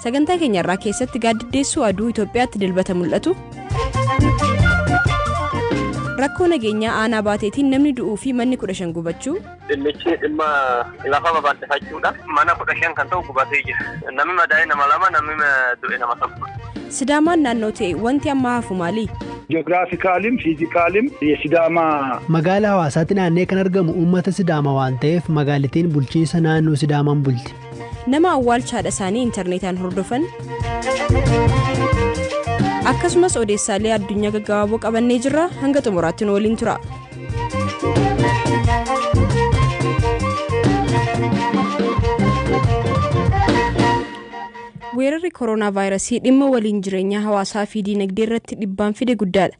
Sagantaa keenya irraa keessatti gaaddiddeessuu aduu Itoophiyaatti dilbata mul'atu. Rakkoo nageenyaa aanaa baateetiin namni du'uu fi manni kudha shan gubachuu. Dhimmichi dhimma lafa babal'ifachuudha. Mana kudha shan kan ta'u gubatee jira. Namni madaa'e nama lama, namni du'e nama tokko. Sidaamaan naannoo ta'e wanti amma hafu maali? Ji'oogiraafikaalim, fiizikaalim, sidaamaa. Magaala hawaasaatti naannee kan argamu uummata sidaama waan ta'eef magaalitiin bulchiinsa naannoo sidaamaan bulti. Nama awwaalcha haadha isaanii intarneetaan hordofan. Akkasumas odeessaalee addunyaa gaggabaaboo qabannee jirra hanga xumuraatti nu waliin tura. Weerarri kooroonaa vaayirasii dhimma waliin jireenyaa hawaasaa fi diinagdee irratti dhibbaan fide guddaadha.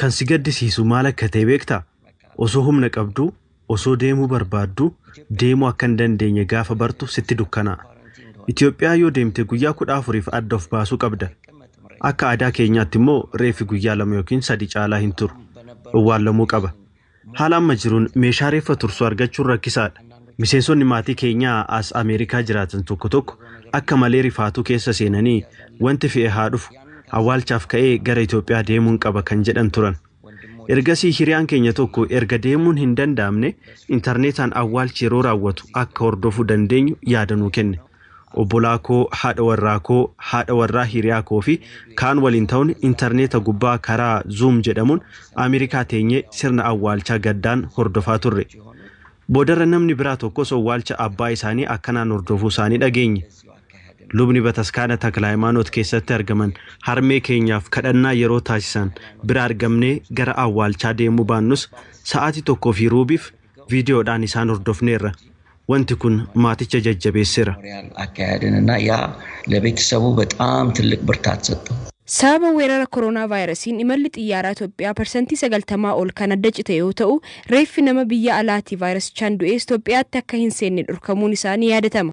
Kan si gaddisiisu maal akka ta'e beektaa? Osoo humna qabduu, osoo deemuu barbaadduu deemuu akka hin dandeenye gaafa bartu sitti dukkanaa'a. Itoophiyaa yoo deemte guyyaa 14f adda of baasuu qabda. Akka aadaa keenyaatti immoo reeffi guyyaa lama yookiin sadi caalaa hin turu. Owwaallamuu qaba. Haala amma jiruun meeshaa reeffa tursu argachuun rakkisaadha. Miseensonni maatii keenyaa as Ameerikaa jiraatan tokko tokko akka malee rifaatuu keessa seenanii wanti fe'e haa dhufu, awwaalchaaf ka'ee gara Itoophiyaa deemuun qaba kan jedhan turan. Ergasii hiriyaan keenya tokko erga deemuun hin danda'amne intarneetaan awwaalchi yeroo raawwatu akka hordofuu dandeenyu yaada nuu kenne. Obbolaa koo, haadha warraa koo, haadha warraa hiriyaa koo fi kaan waliin ta'uun intarneeta gubbaa karaa Zoom jedhamuun Ameerikaa teenyee sirna awwaalchaa gaddaan hordofaa turre. Boodarra namni biraa tokkos owwaalcha abbaa isaanii akkanaan hordofuu isaanii dhageenye. Lubni Bataskaana Taklahaymaanoot keessatti argaman harmee keenyaaf kadhannaa yeroo taasisan bira argamnee gara awwaalchaa deemuu baannus sa'aatii tokkoo fi ruubiif viidiyoodhaan isaan hordofneerra. Wanti kun maaticha jajjabeessera. Sababa weerara koronaavaayirasiin imalli xiyyaaraa Itoophiyaa parsantii 90 ol kan adda cite yoo ta'u, reeffi nama biyya alaatii vaayirasichaan du'ees Itoophiyaatti akka hin seenne dhorkamuun isaa ni yaadatama.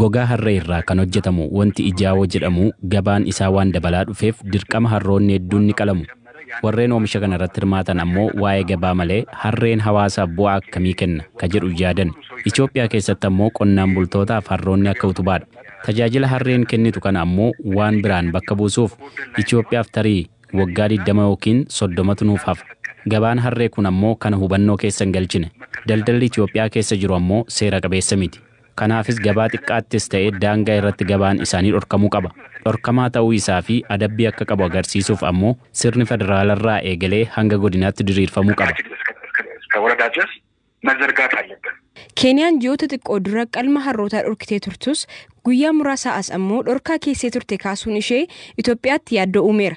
Gogaa harree irraa kan hojjetamu wanti ijaawoo jedhamu gabaan isaa waan dabalaa dhufeef dirqama harroonni hedduun ni qalamu. Warreen oomisha kana irratti hirmaatan ammoo waa'ee gabaa malee harreen hawaasaaf bu'aa akkamii kenna ka jedhu yaadan. Itoophiyaa keessatti ammoo qonnaan bultootaaf harroonni akka utubaadha. Tajaajila harreen kennitu kana ammoo waan biraan bakka buusuuf Itoophiyaaf tarii waggaa 20 ykn 30tu nuuf hafa. Gabaan harree kun ammoo kana hubannoo keessa hin galchine. Daldalli Itoophiyaa keessa jiru ammoo seera qabeessa miti. Kanaafis gabaa xiqqaattis ta'e daangaa irratti gabaan isaanii dhorkamuu qaba. Dhorkamaa ta'uu isaa fi adabbii akka qabu agarsiisuuf ammoo sirni federaalarraa eegalee hanga godinaatti diriirfamuu qaba. Keeniyaan ji'oota xiqqoo dura qalma harrootaa dhorkitee turtus, guyyaa muraasaa as ammoo dhorkaa keessee turte kaasuun ishee Itoophiyaatti yaaddoo uumeera.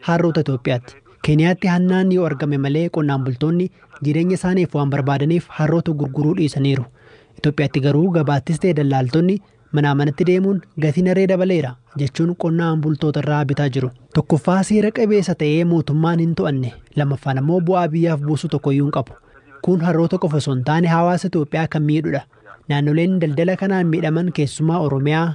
Harroota Itoophiyaatti. Keeniyaatti hannaanni yoo argame malee qonnaan bultoonni jireenya isaaniif waan barbaadaniif harroota gurguruu dhiisaniiru. Itoophiyaatti garuu gabaattis ta'e dallaaltonni manaa manatti deemuun gatiin harree dabaleera jechuun qonnaan bultoota irraa bitaa jiru. Tokkoffaa seera qabeessa ta'ee mootummaan hin to'anne. Lammaffaan ammoo bu'aa biyyaaf buusu tokkoyyuu hin qabu. Kun harroota qofa osoo hin taane hawaasa Itoophiyaa kan miidhudha. Naannoleen daldala kanaan miidhaman keessumaa Oromiyaa,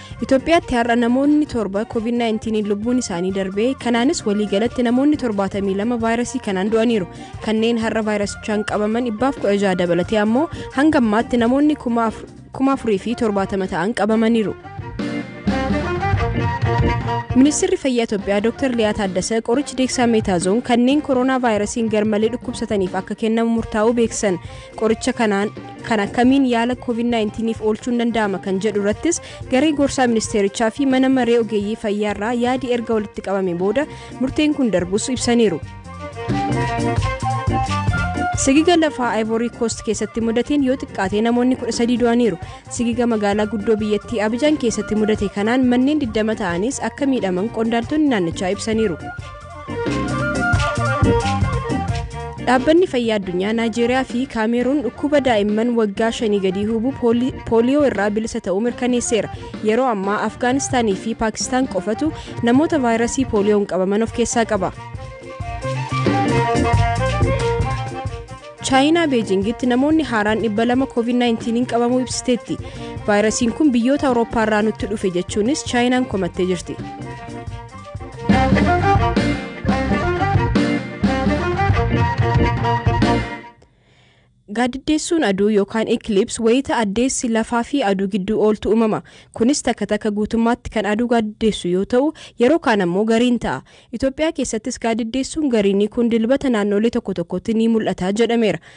Itoophiyaatti har'a namoonni torba COVID-19 lubbuun isaanii darbee kanaanis waliigalatti namoonni 72 vaayirasii kanaan du'aniiru. Kanneen har'a vaayirasichaan qabaman 116 dabalatee ammoo hanga ammaatti namoonni 4,070 ta'an qabamaniiru. Ministeerri Fayyaa Itoophiyaa Dr. Liyaa Taaddasee qorichi deeksaa meetaazoon kanneen koroonaa vaayirasiin garmalee dhukkubsataniif akka kennamu murtaa'uu beeksisan. Qoricha kanaan kan akkamiin yaala COVID-19f oolchuun danda'ama kan jedhu irrattis garee gorsaa ministeerichaa fi mana maree ogeeyyii fayyaa irraa yaadi erga walitti qabame booda murteen kun darbus ibsaniiru. Sigiga lafaa Ivory Coast keessatti mudateen yoo xiqqaate namoonni 13 du'aniiru. Sigiga magaalaa guddoo biyyattii Abijaan keessatti mudate kanaan manneen 20 ta'anis akka miidhaman qondaaltonni naannichaa ibsaniiru. Dhaabbanni Fayyaa Addunyaa Naajeeriyaa fi Kaameeruun dhukkuba daa'imman waggaa shanii gadii hubu pooliyoo irraa bilisa ta'uu mirkaneesseera. Yeroo ammaa Afgaanistaanii fi Paakistaan qofatu namoota vaayirasii pooliyoon qabaman of keessaa qaba. Chaayinaa Beejingitti namoonni haaraan 200 COVID-19 qabamuu ibsiteetti. Vaayirasiin kun biyyoota Awurooppaa irraa nutti dhufe jechuunis Chaayinaan komattee jirti. Gaaddiddeessuun aduu yookaan ekilips wayita addeessi lafaa fi aduu gidduu ooltu uumama. Kunis takka takka guutummaatti kan aduu gaaddiddeessu yoo ta'u, yeroo kaan ammoo gariin ta'a. Itoophiyaa keessattis gaaddiddeessuun gariinii kun dilbata naannoolee tokko tokkotti ni mul'ata jedhameera.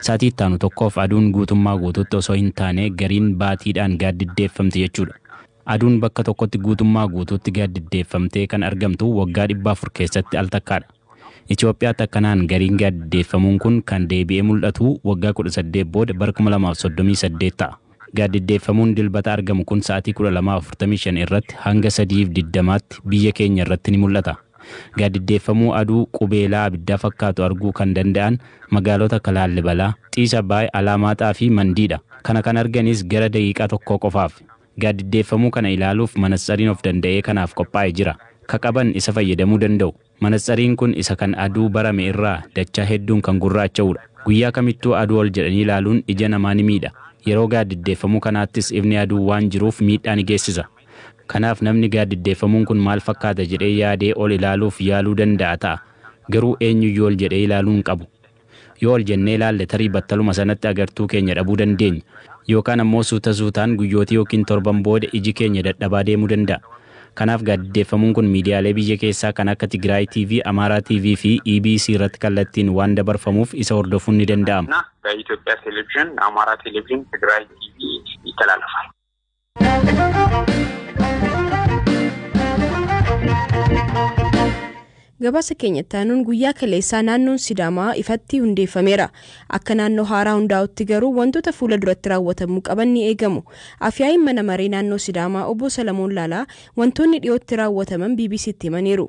Saatii itti aanu tokkoof aduun guutummaa guutuutti osoo hin taane gariin baatiidhaan gaaddiddeeffamti jechuudha. Aduun bakka tokkotti guutummaa guutuutti gaaddiddeeffamtee kan argamtu waggaa 400 keessatti al takkaadha. Itoophiyaatti akkanaan gariin gaaddiddeeffamuun kun kan deebi'ee mul'atu waggaa 18 booda bara 2038 ta'a. Gaaddiddeeffamuun Dilbata argamu kun sa'atii 12:45 irratti hanga 3:20tti biyya keenya irratti ni mul'ata. Gaaddiddeeffamuu aduu qubeelaa abiddaa fakkaatu arguu kan danda'an magaalota akka Laallibalaa, Xiis Abbaay, Alaamaaxaa fi Mandii dha. Kana kan arganis gara daqiiqaa tokkoo qofaaf. Gaaddiddeeffamuu kana ilaaluuf manatsariin of danda'ee kanaaf qophaa'e jira. Ka qaban isa fayyadamuu danda'u. Manatsariin kun isa kan aduu barame irraa dachaa hedduun kan gurraacha'uudha. Guyyaa kamittuu aduu ol jedhanii ilaaluun ija namaa ni miidha. Yeroo gaaddiddeeffamuu kanaattis ifni aduu waan jiruuf miidhaa ni geessisa. Kanaaf namni gaaddiddeeffamuun kun maal fakkaata jedhee yaadee ol ilaaluuf yaaluu danda'a ta'a. Garuu eenyuyyuu ol jedhee ilaaluu hin qabu. Yoo ol jennee ilaalle tarii battaluma sanatti agartuu keenya dhabuu dandeenya. Yookaan ammoo suuta suutaan guyyootii yookiin torban booda iji keenya dadhabaa deemuu danda'a. Kanaaf gaadiddeeffamuun kun miidiyaalee biyya keessaa kan akka Tigiraay TV, Amaaraa TV fi EBC irratti kallattiin waan dabarfamuuf isa hordofuun ni danda'ama. Itoophiyaa Televizhin, Amaaraa Televizhin, Tigiraay TV, Italaalafa. Gabaasa keenya itti aanuun guyyaa kaleessaa naannoon Sidaamaa ifatti hundeeffameera. Akka naannoo haaraa hundaa'utti garuu wantoota fuula duratti raawwatamuu qaban ni eegamu. Afyaa'iin mana maree naannoo Sidaamaa obbo Salamoon Laalaa wantoonni dhiyootti raawwataman BBC'tti himaniiru.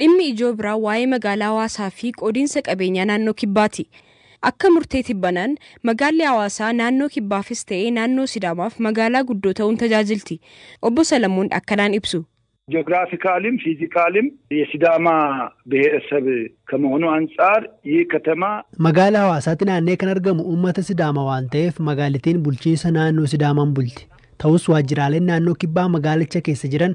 Dhimmi ijoo biraa waa'ee magaalaa Hawaasaa fi qoodiinsa qabeenyaa naannoo Kibbaati. Akka murtee tibbanaan, magaalli Hawaasaa naannoo Kibbaafis ta'ee naannoo Sidaamaaf magaalaa guddoo ta'uun tajaajilti. Obbo Salamoon akkanaan ibsu. Ji'ograafikaaliim, fiizikaaliim yesidaamaa biheerasab kamahoonuu antsaar yih katamaa. Magaala Hawaasaatti naanna'ee kan argamu uummata Sidaama waan ta'eef magaalitiin bulchiinsa naannoo Sidaamaan bulti. Ta'us waajjiraaleen naannoo Kibbaa magaalicha keessa jiran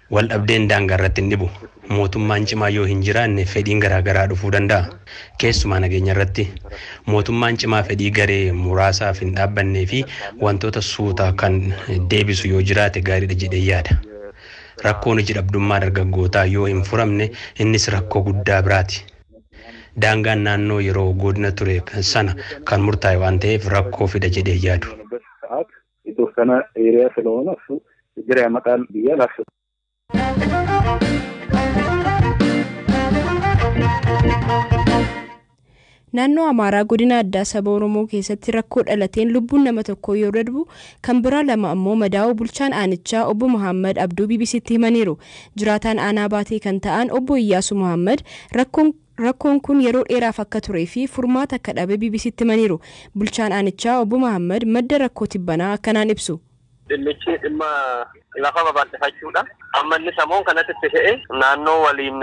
Waldhabdeen daangaa irratti hin dhibu. Mootummaan cimaa yoo hin jiraanne fedhiin garaa garaa dhufuu danda'a. Keessumaa nageenya irratti. Mootummaan cimaa fedhii garee muraasaaf hin dhaabbannee fi wantoota suuta kan deebisu yoo jiraate gaariidha jedheen yaada. Rakkoon hoji dhabdummaa dargaggootaa yoo hin furamne innis rakkoo guddaa biraati. Daangaan naannoo yeroo goodina ture sana kan murtaa'e waan ta'eef rakkoo fida jedhee hin yaadu. Iddoo kana hiriyaa filoon afsu jira maqaan biyya lafsu. Naannoo Amaaraa godina addaa saba Oromoo keessatti rakkoo dhalateen lubbuun nama tokkoo yoo darbu kan biraa lama ammoo madaa'uu bulchaan aanichaa obbo Mahaammad Abduu BBC'tti himaniiru. Jiraataan aanaa Baatee kan ta'an obbo Iyyaasuu Mahaammad rakkoon Rakkoon kun yeroo dheeraaf akka turee fi furmaata akka dhabe BBC'tti himaniiru. Bulchaan aanichaa Obbo Mahaammad madda rakkoo tibbanaa akkanaan ibsu. Dhimmichi dhimma lafa babal'ifachuudha. Amma inni samoon kanatti itti ka'e naannoo waliin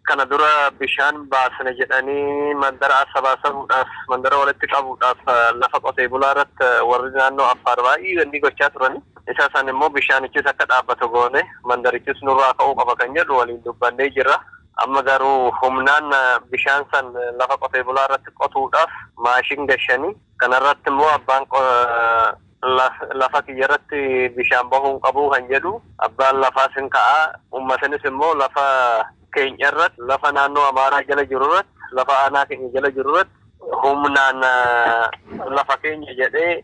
kana dura bishaan baasna jedhanii mandara asabaasabuudhaaf, mandara walitti qabuudhaaf lafa qotee bulaa irratti warri naannoo Affaar baay'ee wanni gochaa turani. Isa san immoo bishaanichis akka dhaabbatu goone mandarichis nurraa ka'uu qaba kan jedhu waliin dubbannee jirra. Amma garuu humnaan bishaan san lafa qotee bulaa irratti qotuudhaaf maashin gashani. Kana irratti immoo abbaan lafa kiyya irratti bishaan bahuu hin qabu kan jedhu abbaan lafaas hin ka'a. Uummatanis immoo lafa keenya irratti, lafa naannoo Amaaraa jala jiru irratti, lafa aanaa keenya jala jiru irratti humnaan lafa keenya jedhee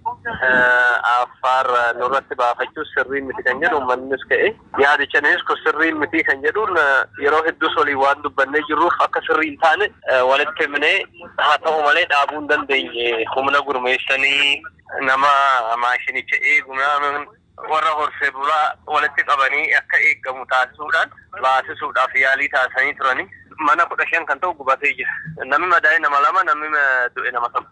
Affaar nurratti baafachuu sirrii miti kan jedhu uummannis ka'e. Yaadichanis kun sirrii miti kan jedhuun yeroo hedduus waliin waan dubbannee jirruuf akka sirrii hin taane walitti himnee haa ta'u malee dhaabuu hin dandeenye. Humna gurmeessanii nama maashinicha eegu warra horsee bulaa walitti qabanii akka eegamu taasisuudhaan baasisuudhaaf yaalii taasisanii turani. Mana 15 kan ta'u gubatee jira. Namni madaa'e nama 2, namni du'e nama 1.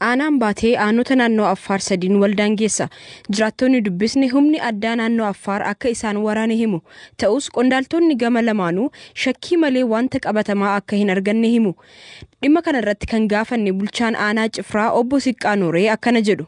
Aanaan Baatee aanota naannoo Affaar sadiin wal daangeessa. Jiraattoonni dubbisne humni addaa naannoo Affaar akka isaan waraane himu. Ta'us qondaaltoonni gama lamaanuu shakkii malee wanta qabatamaa akka hin arganne himu. Dhimma kanarratti kan gaafanne bulchaan aanaa Cifraa obbo Siqqaa Nooree akkana jedhu.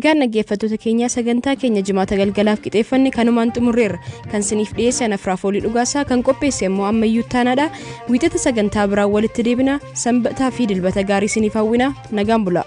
Egaan dhaggeeffattoota keenyaa sagantaa keenya jimaata galgalaaf qixeeffanne kanumaan xumurreerra. Kan siniif dhiyeessan afraaf olii dhugaasaa kan qopheesse immoo ammayyuu taanaadha. Wiixata sagantaa biraan walitti deebina sanbataa fi dilbata gaarii siniif hawwina nagaan bulaa.